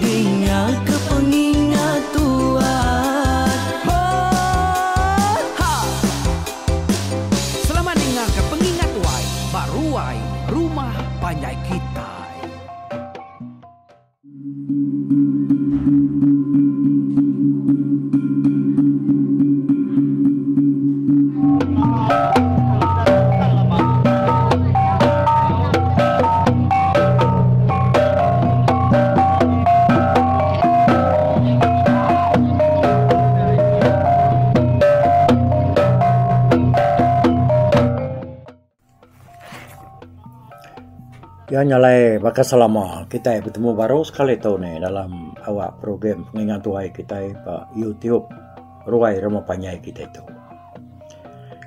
Dingaka pengingat tuan. Hot ha. Selamat dingaka pengingat tuai ba ruai rumah panjai kitai. Iya nya alai baka selama kitai betemu baru sekali tu ni dalam awak program pengingat tuai kitai ba YouTube ruai rumah panjai kitai tu.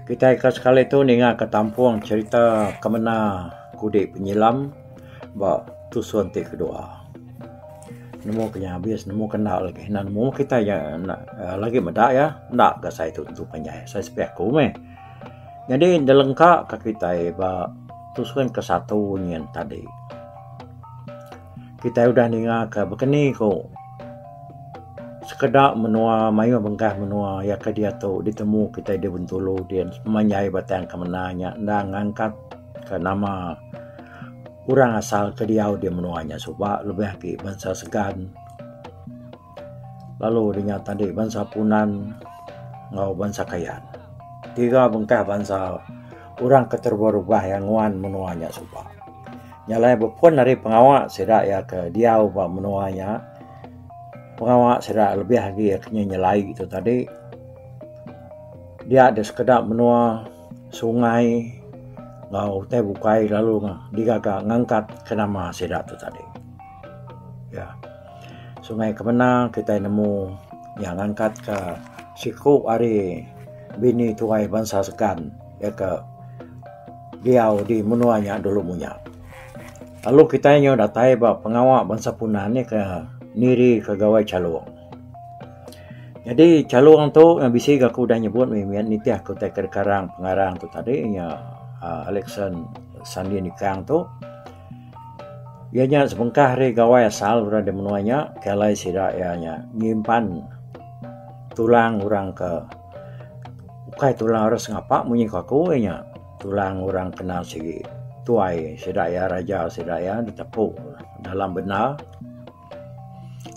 Kitai ke sekali tu ninga ke tampung cherita ke mena kudi penyilam ba tusun ti kedua. Nemu ke nya abis nemu ke enda lagi nan nemu kitai nya enda lagi meda iya enda ga sai tu tentu panjai sai sepiak aku meh. Nyadi enda lengka ka kitai ba tusun ke satu nyin tadi. Kitai udah ninga ka bekeni ku sekeda menua mayuh bengkah menua iya ke diatu ditemu kitai di Bintulu dian sepanjai Batang Kemena nya enda ngangkat ka nama orang asal ke diau di menua nya suba lebih agi bansa Segan. lalu dinya tadi bansa punan enggau bansa kayan. Tiga bengkah bansa orang ke terubah-ubah iya nguan menua nya suba. Nya alai bepun ari pengawa sida iya ke diau ba menua nya pengawa sida lebih agi iya ke nyelai tu tadi dia deh sekeda menua sungai enggau utai bukai lalu digaga ngangkat ke nama sida tu tadi. Ya. Sungai kemena kitai nemu iya ngangkat ka siku ari bini tuai bansa Skan iya ka diau di menua nya dulu munya. Lalu kitai nyau datai ba pengawa bansa Punan iya ka Niri ka Gawai Chalong. Nyadi Chalong tu meh bisi ga ku udah nyebut meh mih nitih ku tai ka Karang pengarang tu tadi iya nya Alexan Sandi Nikang tu. Iya nya sebengkah ari gawai asal orang di menua nya ke alai sida iya nya nyimpan tulang orang ke ukai tulang orang sengapa munyi ku aku iya nya tulang orang kena sigi tuai sida iya raja sida iya ditepu dalam benda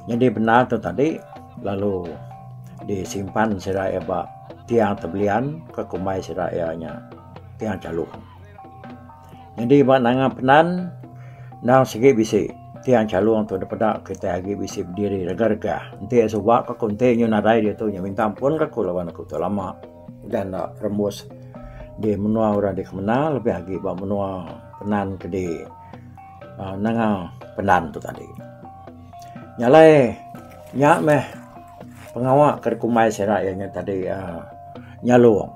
nyadi benda tu tadi lalu disimpan sida iya ba tiang tebelian ke kumbai sida iya nya tiang chalung. Nyadi ba nanga Penan endang sigi bisi tiang chalung tu dipeda kitai agi bisi bediri regah-regah. Enti iya suba ka ku enti nyu nadai diatu nya minta ampun ka ku laban aku tu lama udah enda berembus di menua orang di kemena lebih agi ba menua Penan ke di aaa nanga Penan tu tadi. Nya alai nya meh pengawa ke dikumbai sida iya nya tadi aaa nyalung.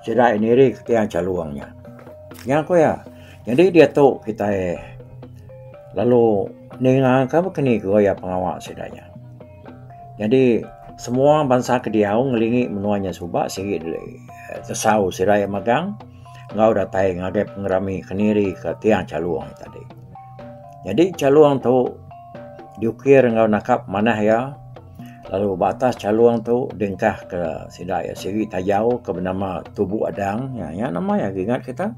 Sida iya nirika tiang chalung nya. Nya ku iya. Nyadi diatu kitai lalu ningaka baka ni gawa iya pengawa sida nya. Nyadi semua bansa ke diau ngelingi menua nya suba sigi tesau sida iya megang enggau datai ngagai pengerami kendiri ke tiang Chalong nya tadi. Nyadi Chalong tu diukir enggau nangkap manah iya Lalu ba atas chalung tu dingkah ke sida iya siri tayau ke benama Tubu Adang nya nya nama iya agi ingat kita.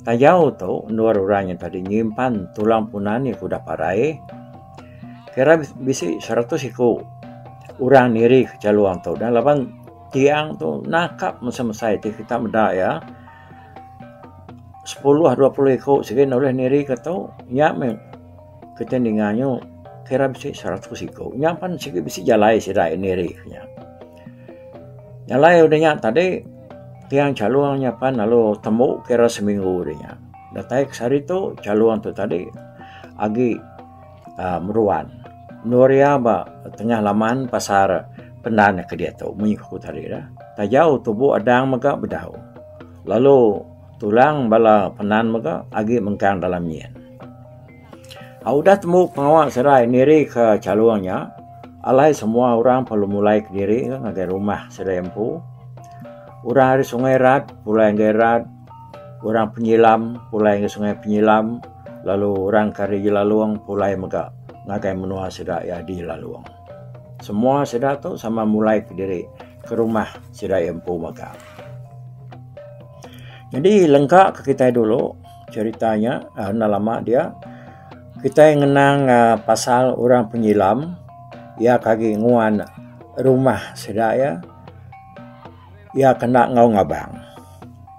Tayau tu endur orang nya tadi nyimpan tulang punan iya ke udah parai kira bisi seratus iku orang niri ke chalung tu dah laban tiang tu nangkap mesai mesai ti kita meda iya sepuluh dua puluh iku sigi ne ulih niri ke tu nya meh Kita ninga nyu kira bisi seratus iku. Nya pan sigi bisi jalai sida ini hari nya. Jalai udah nya tadi tiang calung nya pan lalu tembu kira seminggu udah nya. Datai ke sehari tu calung tu tadi agi uh, meruan. Nur ya ba tengah laman pasar pendan ke dia tu munyi ku tadi dah. Tajau tubuh adang mega bedau. Lalu Tulang bala penan mega agi mengkang dalam nyin. Hak udah tembu pengawa serai nirika chalung nya, alai semua orang perlu mulai kediri ngagai rumah serai empu. Orang ari Sungai Rat pulai ngagai Rat, orang Penyilam pulai ngagai Sungai Penyilam lalu orang ke ari Jelalong pulai mega ngagai menua sida iya di Jelalong. Semua sida tu sama mulai kediri ke rumah sida iya empu mega. Jadi lengka ke kita dulu cerita nya uh, enda lama dia kita ngenang uh, pasal orang penyilam ia kagi nguan rumah sida ya ia kena ngau ngabang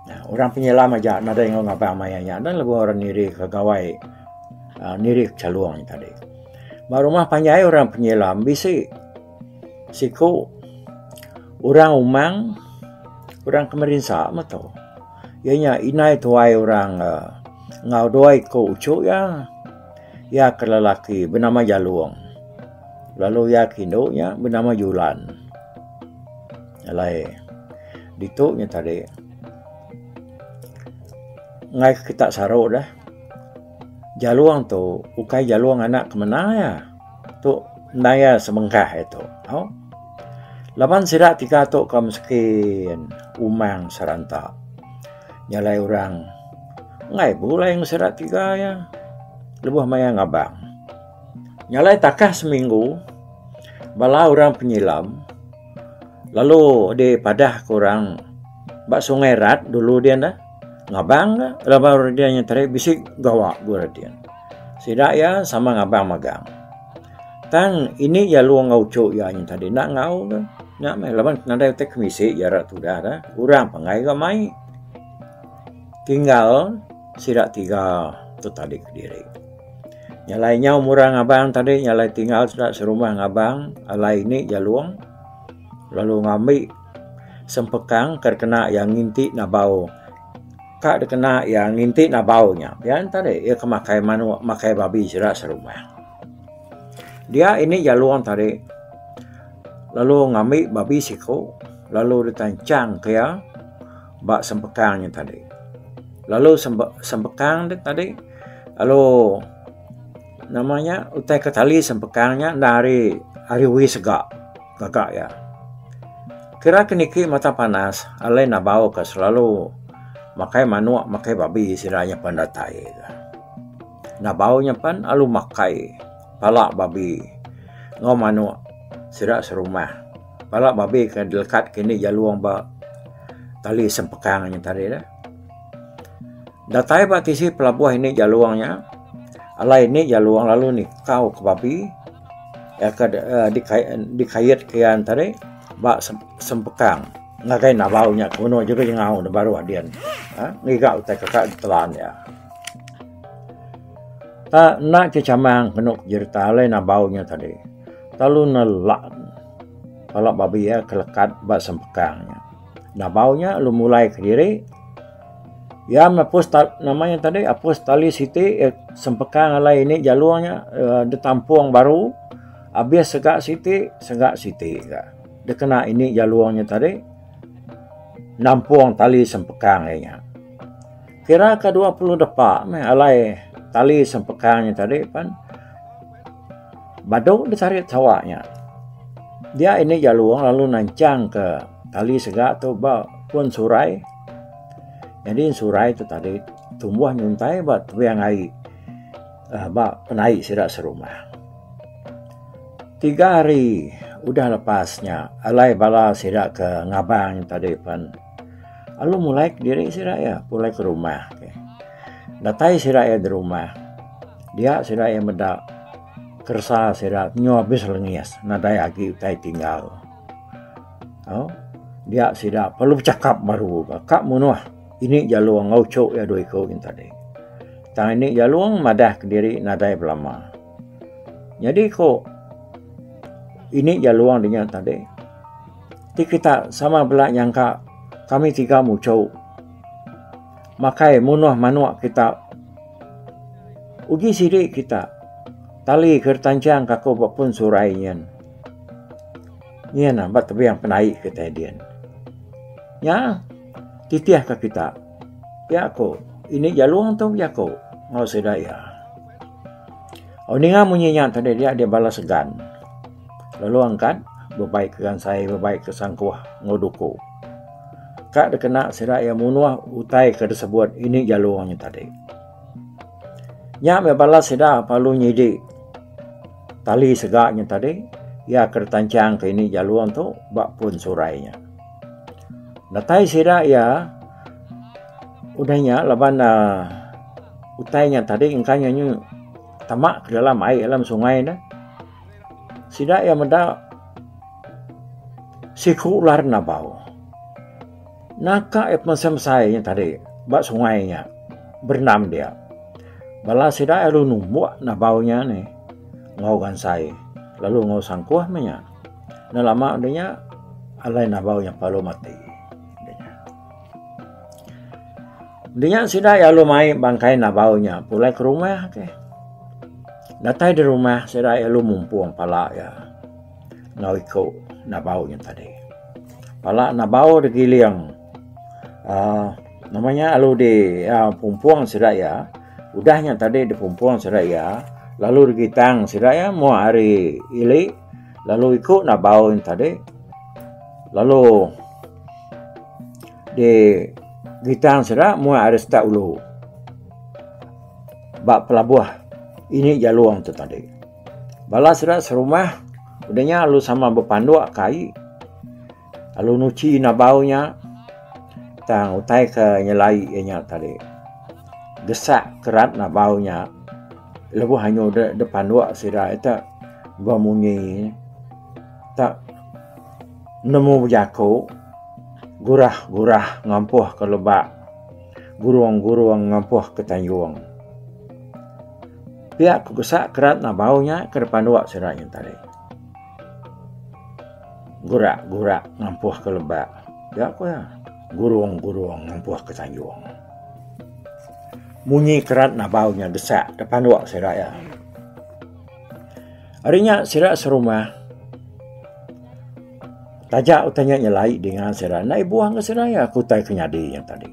nah, orang penyilam aja nadai ngau ngabang maya nya dan lebuh orang niri ke gawai uh, niri ke calung tadi ba rumah panjai orang penyilam bisi Siku orang umang orang ke merinsa meh tu iya nya inai tuai orang enggau dua iku uchu iya. Iya ke lelaki benama Jalong lalu iya ke indu nya benama Julan. Alai ditu nya tadi ngaih kita saru deh Jalong tu ukai Jalong anak ke mena iya. tu naya semengkah iya tu tau. Laban sida tiga tu ka miskin umang seranta nya alai orang enggai bulai ngan sida tiga iya lebuh maya ngabang. Nya alai takah seminggu bala orang penyilam lalu dipadah ka orang ba sungai rat dulu din ngabang ka laban orang nya tadi bisi gawa ku orang din. Sida iya sama ngabang magang. Tang ini iya luang enggau uchu iya nyin tadi enda enggau ke. Nya meh laban nadai utai ke misi iya rak tudah dah. Urang pangai ga mai. Tinggal sida tiga tu tadi kediri. Nya alai nyau murah ngabang tadi nya alai tinggal sida serumah ngabang alai ini iya luang lalu ngambi sempekang ke kena iya nginti nabau Ka dikena iya nginti nabau nya, pia enta deh iya ke makai manuk, makai babi sida serumah. Dia ini jalong tadi lalu ngambi babi siko lalu ditanchang ke iya ba sempekang nya tadi. Lalu sempekang nya tadi lalu nama nya utai ke tali sempekang nya enda ari ari uih sega. gaga iya. Kira ke niki mata panas alai nabau ke selalu makai manok makai babi sida nya pen datai ka. Nabau nya pen lalu makai pala babi enggau manok sida serumah. Pala babi ke dilekat ke indi jalong ba tali sempekang nya tadi la. Datai ba tisi pelabuh indi jalong nya alai indi jalong lalu nikau ke babi. dikait ke iya tadi ba sempekang ngagai nabau nya ke uno juku jengau ne baru adin ngiga utai ke ka ditelan iya. Pak enda ke chamang penu jerita alai nabau nya tadi lalu nelak pala babi iya ke lekat ba sempekang nya. Nabau nya lalu mulai kediri. Ya mapus nama nya tadi apus tali siti eh sempekang alai ini jalur nya eh ditampung baru abis sega siti sega siti ga dikena ini jalur nya tadi nampung tali sempekang ai nya. Kira ka dua puluh depa meh alai tali sempekang nya tadi pen. Badu disarit sawa nya. Dia ini jalung lalu nancang ke tali sega tu ba pun surai. Jadi surai tu tadi tumbuh nyuntai ba tuang ai uh, ba penai sida serumah. Tiga hari udah lepasnya alai bala sida ke ngabang tadi pan alu mulai diri sida ya pulai ke rumah. Datai sida ya di rumah. Dia sida iya meda keresa sida nyu abis lengis nadai agi utai tinggal. Au dia sida perlu bechakap baru ga ka munuh ini jalung enggau uchu iya dua iku nyin tadi. Tang ini jalung madah kediri nadai belama. Nyadi ku ini jalung nya tadi ti kita sama bela nyangka kami tiga muchu. makai munuh manuk kita uji sidi kita tali ke retanchang ka aku ba pun surai nyen nyen na ba tebing penai kitai din nya titih ka kita pia ko ini jalong tu jako ngau sida ia au ninga munyi nya tadi dia balas segan lalu angkat bebai ke gansai bebai ke sangkuh enggau duku ka dikena sida iya munuh utai ke disebut indi jalu nya tadi. Nya meh bala sida perlu nyidi tali sega nya tadi iya ke ditanchang ke indi jalu tu ba pun surai nya. Datai sida iya udah nya laban uhh utai nya tadi engka nya nyu tama ke dalam ai dalam sungai ne. Sida iya meda siku ular enda bau. Naka iya pemesai-mesai nya tadi ba sungai nya berendam dia. Bala sida iya lalu numbuk enda bau nya ni enggau gansai lalu enggau sangkuh meh nya. Enda lama deh nya alai enda bau nya lalu mati. Dinya sida iya lalu mai bangkai Nabau nya pulai ke rumah ke. Datai di rumah sida iya lalu mumpung pala iya enggau iku Nabau nya tadi. Pala Nabau digiling aaa nama nya lalu di aaa pumpung sida iya udah nya tadi dipumpung sida iya lalu digitang sida iya moh hari ili. Lalu iku na bau in tadi. Lalu di gitang sida mu ada sita ulu. Ba pelabuh ini jalung tu tadi. Balas sida serumah udahnya lalu sama bepanduk kai. Lalu nuchi nabau nya tang utai ke nyelai iya nya tadi. Gesak kerat nabau nya lebuh anyu de de panduk sida ita ba munyi ita nemu bejaku gurah gurah ngampuh ke leba gurung gurung ngampuh ke tayung. Pia ku gesak kerat nabau nya ke de panduk sida nya tadi. Gurak gurak ngampuh ke lebak. Ga ko iya. Gurung gurung ngampuh ke sanjung. Munyi kerat nabau nya desak da panduk sida iya. Ari nya sida serumah. Taja utai nya nyelai dinga sida. Enda ibuh ke sida iya ke utai ke nyadi nya tadi.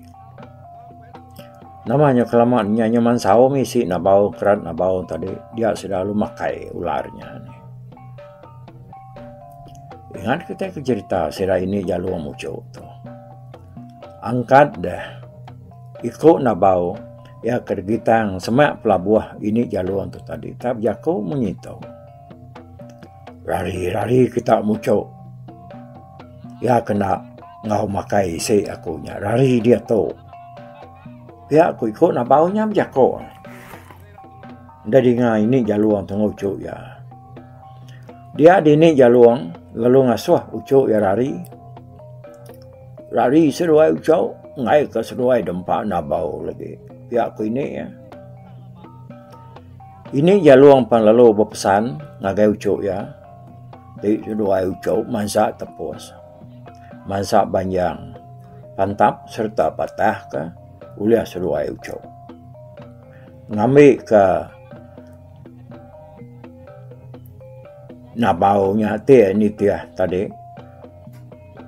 Nama inya kelama inya inya mansau mih isi nak bau keran nak bau tadi dia sida lalu makai ular inya ni. Ingat kita ke cerita sida ini jalu muchu tu. Angkat deh iko nak bau iya ke gitang semak pelabuh ini jalu tu tadi tap jako munyi tu. Rari rari kita muchu. Iya kena enggau makai isi aku nya rari diatu. Pia ku iku nabau nya bejaku. Enda dinga ini jalung tunggu uchu iya. Dia dini jalung lalu ngasuh uchu iya rari. Rari seduai uchu ngai ka seduai dempa nabau lagi. Pia ku ini iya. Ini jalung pan lalu bepesan ngagai uchu iya. Ti keduai uchu mansa tepus, mansa banjang, pantap sereta patah ke ulih seduai uchu. Ngambi ke nabau nya ti nitih tadi.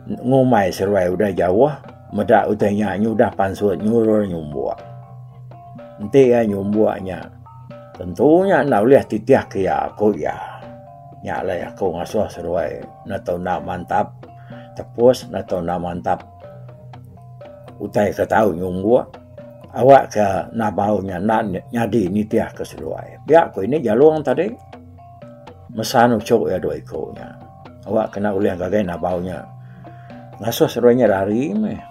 Ngumbai seruai udah jauh, meda utai nya nyudah pansut nyurur nyumbuk. Enti iya nyumbuk nya, tentu nya enda ulih titihka iya, ku iya. Nya alai aku ngasuh seruai ne tau enda mantap tepus, ne tau enda mantap utai ke tau nyumbuk awakka enda bau nya enda nyadi nitihka seruai. Pia ku ini Jalong tadi mesan uchu iya dua iku nya. Awak kena ulih ngagai nabau nya. Ngasuh seruai nya rari meh.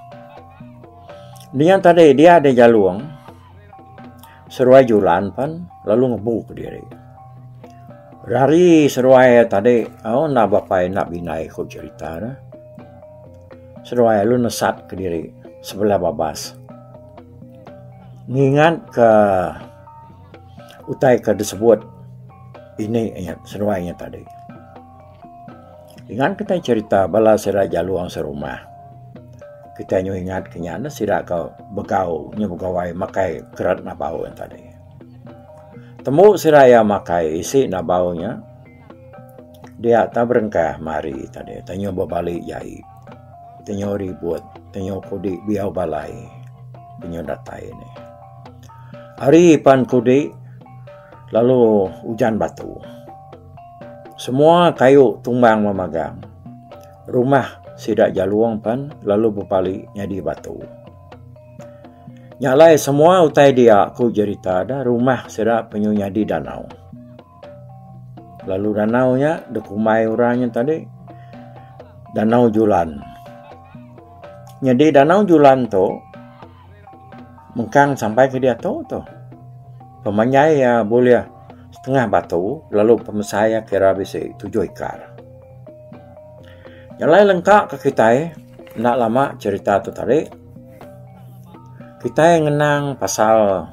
Dengan tadi dia ada jalung. Seruai julan pan lalu ngebu ke diri. Rari seruai tadi au oh, nak bapai nak binai ku cerita dah. Seruai lu nesat ke diri sebelah babas. Ngingat ke Utai ke disebut ini iya seduai iya tadi. Ingat kitai cerita bala sida jalong serumah. Kitai nyuh ingat ke nya sida ke begau nyuh begawai makai kerat nabau iya tadi. Tembu sida iya makai isi nabau nya dia ta berengkah mari tadi ta nyuh bebali jai. Tenyo ribut, tenyo kudi biau balai tenyo datai ne. Ari pan kudi lalu ujan batu. Semua kayu tumbang memagang. Rumah sida jalung pan lalu bepali nyadi batu. Nya alai semua utai dia ku jerita da rumah sida penyu nyadi danau. Lalu danau nya dikumbai orang nya tadi Danau Julan. Nyadi Danau Julan tu mengkang sampai ke diatu tu. Pemanjai ya boleh setengah batu lalu pemesai ya kira bisi tujuh ikar. Yang lain lengkap ke kita eh, nak lama cerita tu tadi. Kita yang ngenang pasal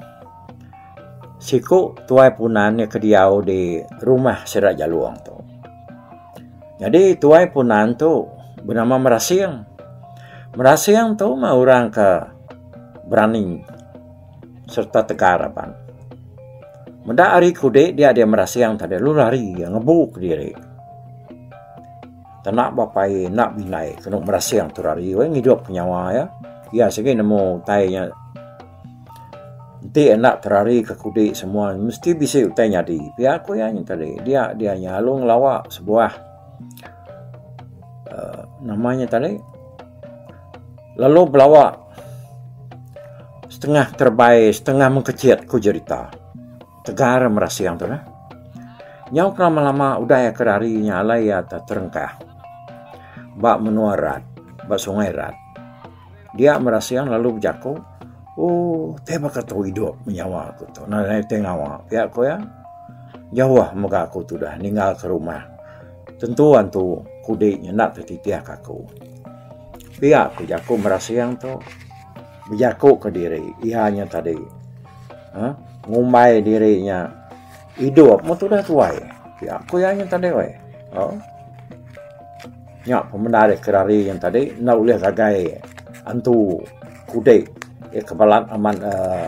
Siku tuai punan iya ke diau di rumah sida Jalong tu. Nyadi tuai punan tu benama Merasing. Merasing tu meh orang ke berani sereta tegar aban. Meda hari kudi dia di Merasing tadi lalu lari iya ngebu kediri. Tana bepai enda bindai kenu Merasing tu lari weh ngidup nyawa iya. Iya sigi nemu utai nya. Enti enda terari ke kudi semua mesti bisi utai nyadi pia ku iya nya tadi dia dia nya lalu ngelawa sebuah uhh nama nya tadi lalu belawa setengah terebai setengah mengkechet ku jerita tegar merasing tu nah. Nyau ke lama lama udah iya ke rari nya alai iya terengkah ba menua rat ba sungai rat. Dia mera siang lalu bejaku, Oh, te baka tu idup menyawa aku tu. Nah, te ngawa. Pia ko ya. Jauh mega aku tu dah ninggal ke rumah. Tentu antu kudi nyendak ke titih ke aku. Pia ko jaku mera siang tu. Bejaku ke diri. Ia nya tadi. Ha? Ngumbai diri nya. Idup meh tudah tuai. Pia ku iya nyin tadi weh. Oh. Nya pemendar iya kerari nyin tadi enda ulih ngagai antu kudi iya ke balat amat uh,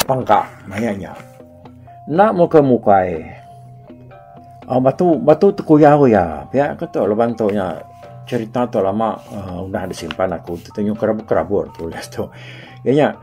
pangka maya nya. Enda muka mukai. Oh, batu batu tekuyau iya. Pia ke tu leban tu nya cerita tu lama uh, udah disimpan aku tu tunjuk kerabut-kerabut tulis tu. Iya nya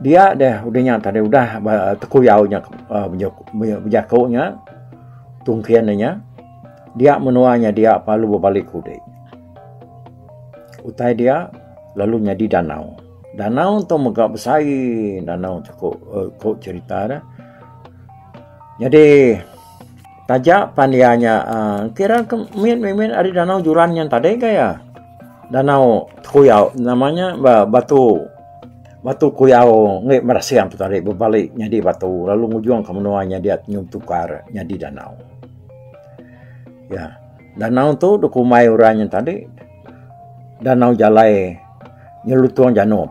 Dia deh udah nya tadi udah tekuyau nya uh, bejaku nya tungkin nya dia menua nya dia palu berbalik kudik. Utai dia lalu nyadi danau. Danau tu mega besai danau tu ko, uh, ko cerita dah. Jadi Taja pan iya nya kira ke mit mit ari danau Juran nyen tadi ka iya. Danau Tekuyau nama nya ba Batu Batu Kuyau enggai Merasing tu tadi bebali nyadi batu lalu ngujung ke menua nya diat Nyum Tukar nyadi danau. Iya. Danau tu dikumbai orang nya tadi Danau Jalai Nyelutung Janup.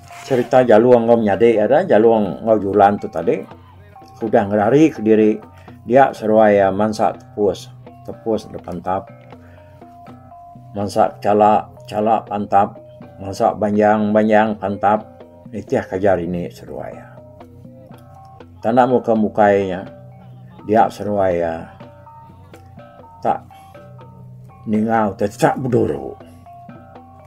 Cerita Jalong enggau Menyadi iya adalah Jalong enggau Julan tu tadi ke udah ngerari kediri dia seruai iya mansa tepus, tepus da pantap, mansa chala, chala pantap, mansa banjang, banjang pantap nitih ke ajar ini seruai iya. Tanda muka mukai nya dia seruai iya tak ningau tecak beduru.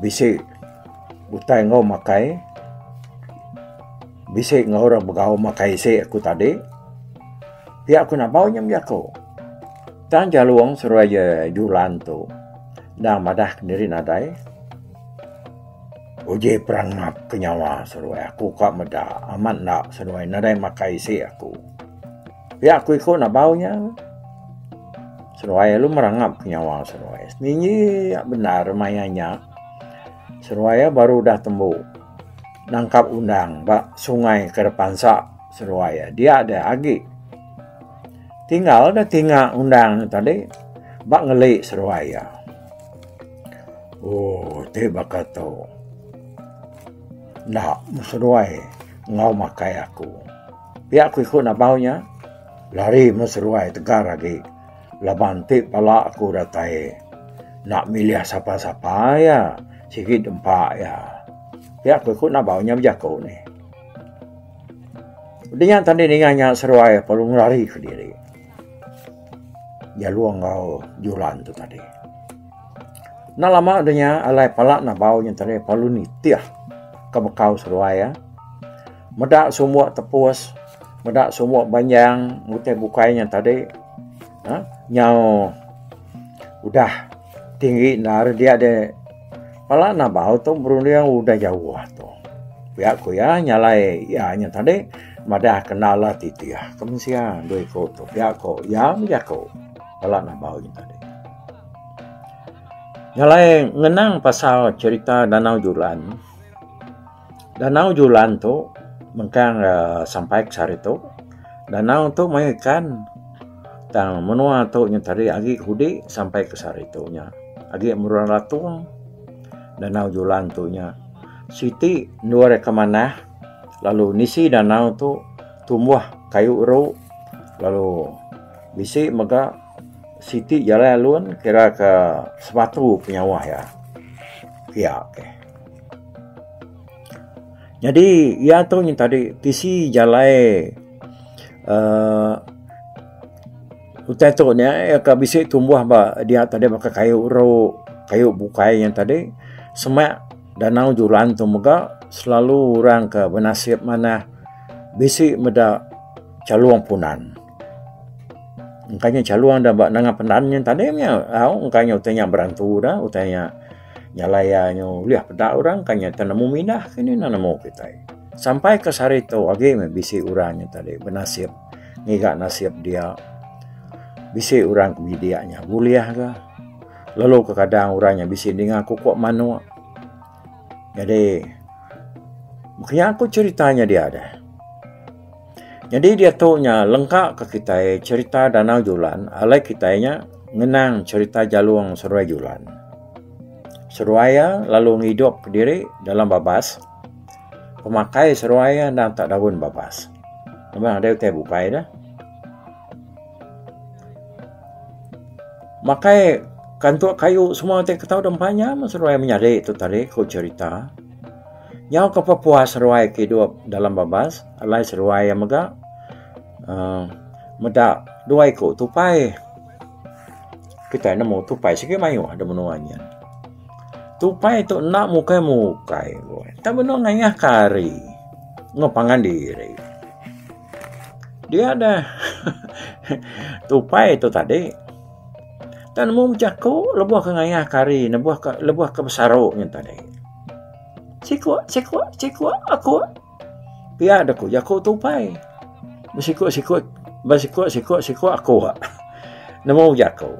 bisi utai enggau makai bisi enggau ira begau makai isi aku tadi pia ku nambau inya mih aku tang jalong seruai ja julan tu enda madah kendiri nadai uji perang map ke nyawa seruai aku ka meda amat enda seruai nadai makai isi aku. Pia aku iko nabau nya. Seruai lu merangap ke nyawa seruai. Ningi ya bendar maya nya. Seruai ya baru dah tembu. Nangkap undang ba sungai ke depan sa seruai ya. Dia ada agi. Tinggal dah tinga undang tadi. Ba ngeli seruai ya. Oh, ti baka tu. Ndak seruai ngau makai aku. Pia ku iku nabau nya, lari meh seruai tegar agi laban ti pala aku datai enda milih sapa-sapa iya sigi dempa iya. Pia ku iku nabau nya bejaku nih. Udah nya tang deh ninga nya seruai lalu ngelari ke diri jelu enggau juran tu tadi. Enda lama udah nya alai pala nabau nya tadi lalu nitih ke bekau seruai iya. Meda sumuk tepus, meda sumuk banjang ngutih bukai nya tadi. Ha? Nyau udah tinggi nar dia de pala nabau tu berunding udah jauh tu. Pia ku ya nyalai ya nya tadi madah kena lah titih ah, ke mensia dua ko tu pia ko ya meja ko pala nabau nya tadi. Nyalai ngenang pasal cerita Danau Julan Danau Julan tu mengkang sampai ke sehari tu. Danau tu mayuh ikan. Tang menua tu nya tadi agi ke hudi sampai ke sehari tu nya. Agi Murang Ratung, Danau Julan tu nya. Siti endur iya ke manah lalu nisi danau tu tumbuh kayu eru lalu bisi mega siti jalai alun kira ke sematu penyawah iya. Pia. Nyadi iya tu nyin tadi tisi jalai uhh utai tu nya iya ka bisi tumbuh ba dia tadi baka kayu ru, kayu bukai nya tadi semak danau julan tu mega selalu orang ka benasip manah bisi meda chalung punan. Engka nya chalung da ba nanga pendan nya tadi nya au engka nya utai nya berantu da utai nya. Jalai iya nyu ulih peda orang ka nyata nemu mindah ke ni enda nemu kitai. Sampai ke sehari tu agi meh bisi orang nyu tadi benasip ngiga nasip dia. Bisi orang ke bidik nya bulih ga lalu ke kadang orang nya bisi ninga kuko manok. Jadi mung kiya ku cerita nya dia deh. Nyadi diatu nya lengka ka kitai cherita Danau Julan alai kitai nya ngenang cherita Jalong Seruai Julan. Seruai iya lalu ngidup ka diri dalam babas. Pemakai seruai iya endang tak daun babas. Memang adai utai bukai dah. Makai kantuk kayu semua ti ketau deh empa nya meh seruai menyadi tu tadi ku cherita. Nyau ke pepuas ruai ke idup dalam babas alai seruai iya mega uhh meda dua iku tupai. Kitai nemu tupai sigi mayuh da menua nyin. Tupai tu enda mukai mukai pun tang benung ngayah ke hari enggau pangan diri. Dia deh uhh tupai tu tadi tang nemu jaku lebuh ke ngayah ke hari lebuh ke lebuh ke besaru nyin tadi. Siku, siku, siku aku. Pia dah ku jaku tupai. Besiku, siku, besiku, siku, siku aku. Nemu jaku.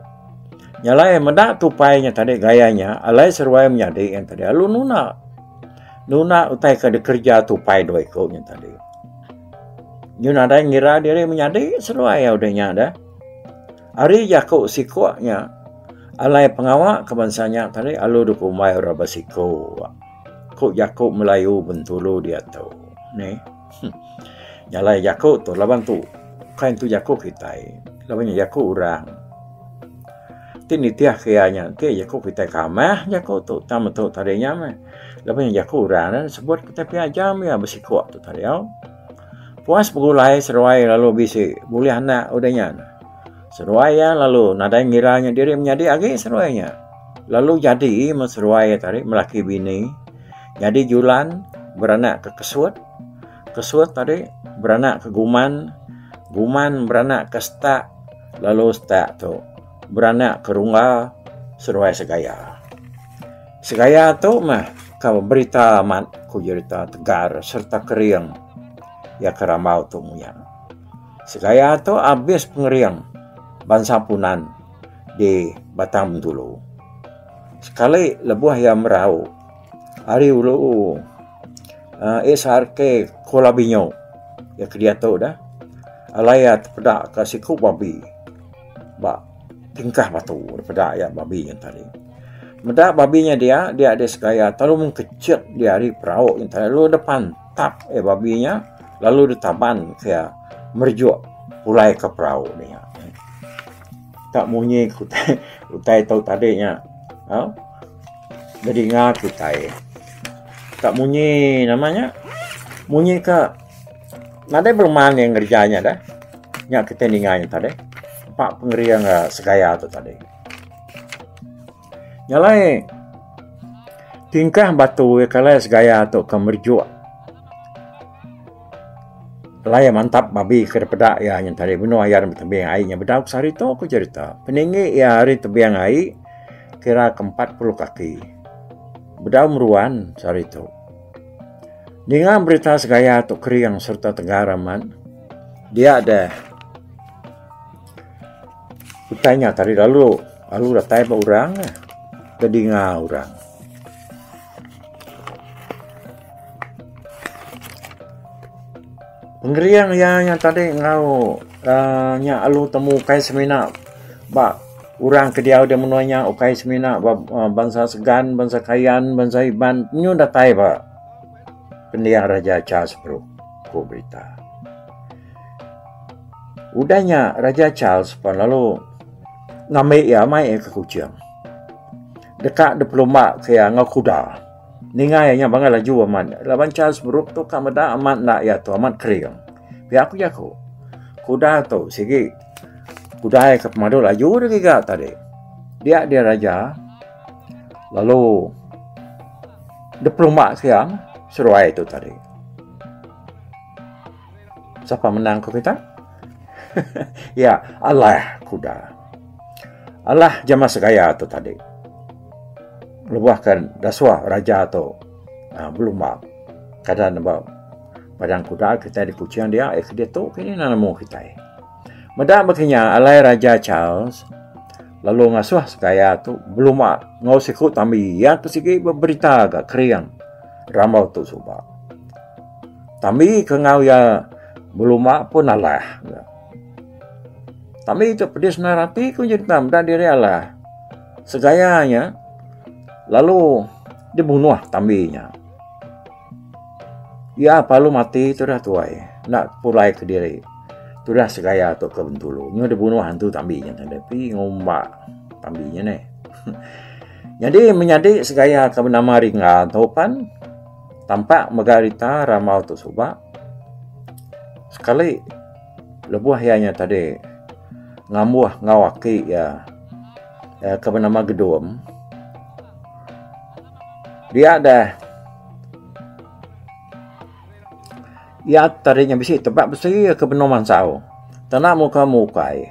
Nyalai meda tupai nya tadi gaya nya, alai seruai menyadi nya tadi alu nuna. Nuna utai ke dikerja tupai dua iku nya tadi. Nyu nadai ngira diri menyadi seruai au deh nya deh. Ari jaku siku nya, alai pengawa ke bansa nya tadi alu dua kumbai orang besiku, ku jaku Melayu Bintulu diatu. Neh. Nya alai jaku tu laban tu kai nentu jaku kitai. Laban nya jaku orang ti nitihka iya nya enti jaku kitai kamah jaku tu tang metu tadi nya meh. Laban nya jaku orang nya sebut kitai pia ajam iya besiku tu tadi au. Puas begulai seruai lalu bisi bulih anak udah nya. Seruai iya lalu nadai ngira nya diri menyadi agi seruai nya. Lalu jadi meh seruai iya tadi melaki bini. Nyadi Julan beranak ke Kesut. Kesut tadi beranak ke Guman. Guman beranak ke Setak lalu Setak tu. beranak ke rungga seduai segaya. Segaya tu meh ke berita amat ku jerita tegar sereta kering iya ke rambau tu muya. Segaya tu abis pengering bansa punan di Batang Bintulu. Sekali lebuh iya merau ari ulu uhh SRK Kuala Binyu iya ke diatu dah alai iya tepeda ke siku babi. ba tingkah batu daripada ayat babi yang tadi. Meda babi nya dia, dia ada segaya talu mung kecil dia hari perau yang tadi lalu depan tap eh babi nya lalu ditaban dia merjuk pulai ke perau ni. Tak munyi kutai, kutai tau tadi nya. Ha? Jadi ngah kutai. Tak munyi namanya. Munyi ke Nadai beruman iya ngereja nya deh. Nya kitai ninga nya tadi. Empa pengering eh, segaya tu tadi. Nyalai tingkah batu iya kalai segaya tu ke merejuk laya mantap babi ke dipeda iya nya tadi benung iya ari tebing ai nya bedau ke sehari tu ku jerita. Peninggi iya ari tebing ai kira ke empat puluh kaki. Bedau meruan sehari tu. Ninga berita segaya tu kering serta tegar amat. Dia deh. Utanya tadi lalu, lalu datai ba orang eh. Tedinga orang. Pengering iya nya tadi enggau uh, nya alu temu ukai semina ba orang ke diau di menua nya ukai semina ba uh, bansa Segan, bansa Kayan, bansa Iban nyu datai ba pendiang Raja Cha sepuru ku berita. Udah nya Raja Charles pun lalu ngambil iya mai ke Kuching. Deka dipelumba ke iya enggau kuda. Ninga iya nya bangah laju amat. Laban Charles Brooke tu ka meda amat enda iya tu amat kering. Pia ku jaku. Kuda tu sigi kuda iya ke pemadu laju dia giga tadi. Dia dia raja lalu dipelumba ke iya seruai tu tadi. Sapa menang ku kita? ya, Allah kuda. Allah jama segaya tu tadi. Lebuhkan daswa raja tu uh, belumba. Kada nembak padang kuda kita di kucing dia. Eh, dia tu kini nak nemu kita. Meda makanya alai Raja Charles lalu ngasuh segaya tu belum ngau siku tambi ya pesigi berita agak kering ramau tu suba. Tami ke enggau iya belumba pun alah. Tami tu pedis nang rati ku nyin tam dak diri alah. Segaya nya lalu dibunuh tami nya. Iya palu mati tu dah tuai enda pulai kediri. Tu dah segaya tu ke bentulu. Nyu dibunuh antu tami nya tadi pi ngumba tami nya neh. Nyadi menyadi segaya ke benama Ringga tu pan Tampak mega rita ramal tu suba sekali lebuh iya nya tadi ngambuh enggau aki iya ke benama Gedum dia deh iya tadi nya bisi tebak besi ke benung mansau tana muka mukai.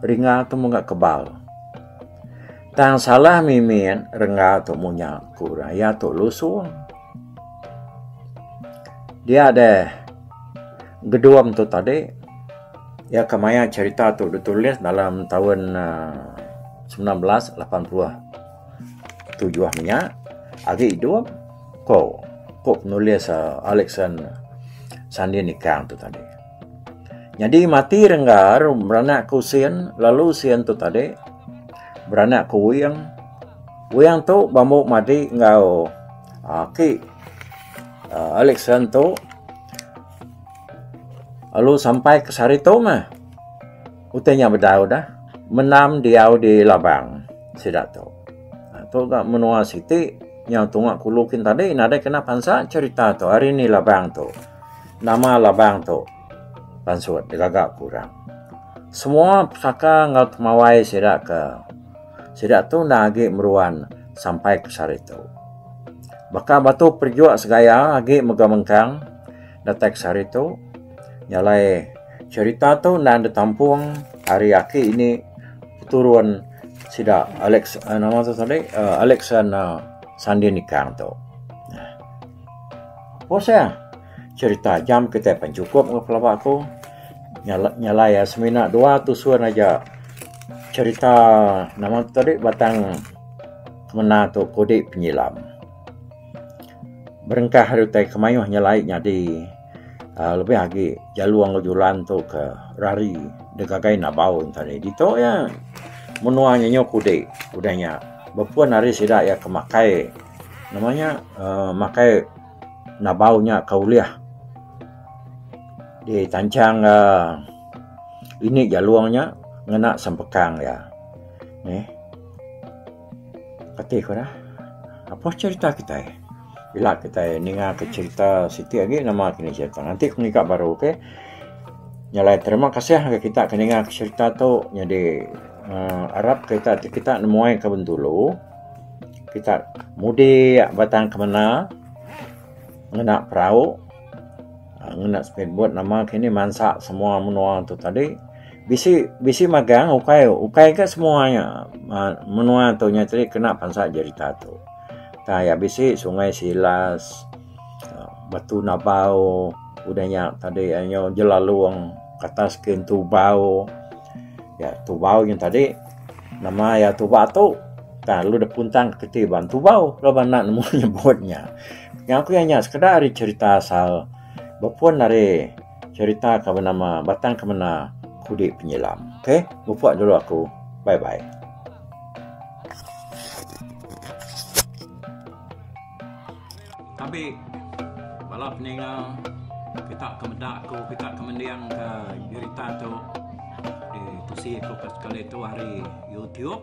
Ringa tu mega kebal. Tang salah mimin rengga tu munya ku orang iya tu lusung. Dia deh gedum tu tadi iya ke maya cerita tu ditulis dalam taun aaa semilan belas lapan puluh tujuh nya agi idup ko ko penulis aaa Alexan Sandie Nikang tu tadi. Nyadi mati Renggar beranak ke usin lalu usin tu tadi beranak ke Wing. Wing tu bambu madi enggau ah, aki uh, Alex Ran tu lalu sampai ke Saritung ah. Utanya bedau dah menam diau di Labang sida tu. Ah, tu gak menua siti yang tunga kulu kin tadi nadai kena pansa cerita tu hari ni Labang tu. Nama labang tu pansut digaga ku orang. Semua pesaka enggau temawai sida ke sida tu enda agi meruan sampai ke sehari tu. Baka batu perijuk segaya agi mega mengkang datai ke sehari tu. Nya alai cherita tu enda ditampung ari aki ini turun sida Alex Alexan Sandie Nikang tu. Poseh. Cerita jam kitai pan chukup enggau pelaba aku. Nyalai iya semina dua tusun aja cerita nama tu tadi batang semina tu kudi penyilam. Berengkah ari utai ke mayuh nyelai nyadi. Uh, lebih lagi jalu anggo julan tu ke rari degagai nabau tadi ditu ya menua nya nyok ude udah nya bepun hari sida ya ke makai nama nya uh, makai nabau nya ke ulih di tanchang uh, ini jalung nya ngena sempekang ya neh Kati ku dah apoh cerita kitai ila kitai ninga ke cerita siti agi nama ke nih cerita nganti ku ngiga baru ok nyalai terima kasih ngagai kita ke ninga ke cerita tu nyadi uhh arap ke kita ti kita nemuai ke bendulu kita mudik batang ke menda ngena perau ngena speed boat nama ke nih mansa semua menua tu tadi. Bisi bisi magang ukai ukai ke semua nya uh, menua tu nya tadi kena pansa jerita tu. Ta ya bisi sungai silas uh, batu nabau udah nya tadi anyo jelalung kata skin tubau. Ya tubau nya tadi nama ya tubau tu ta lu de puntang keti ban tubau lu ban nak nemu nyebutnya. Yang aku nya sekeda ari cerita asal bepun dari cerita ke benama Batang Kemena Kudi Penyilam. Okey, mupuk dulu aku. Bye bye. Tapi bala peninga kita ke medak aku, kita ke mending ke cerita tu di tusi aku pas kali tu hari YouTube.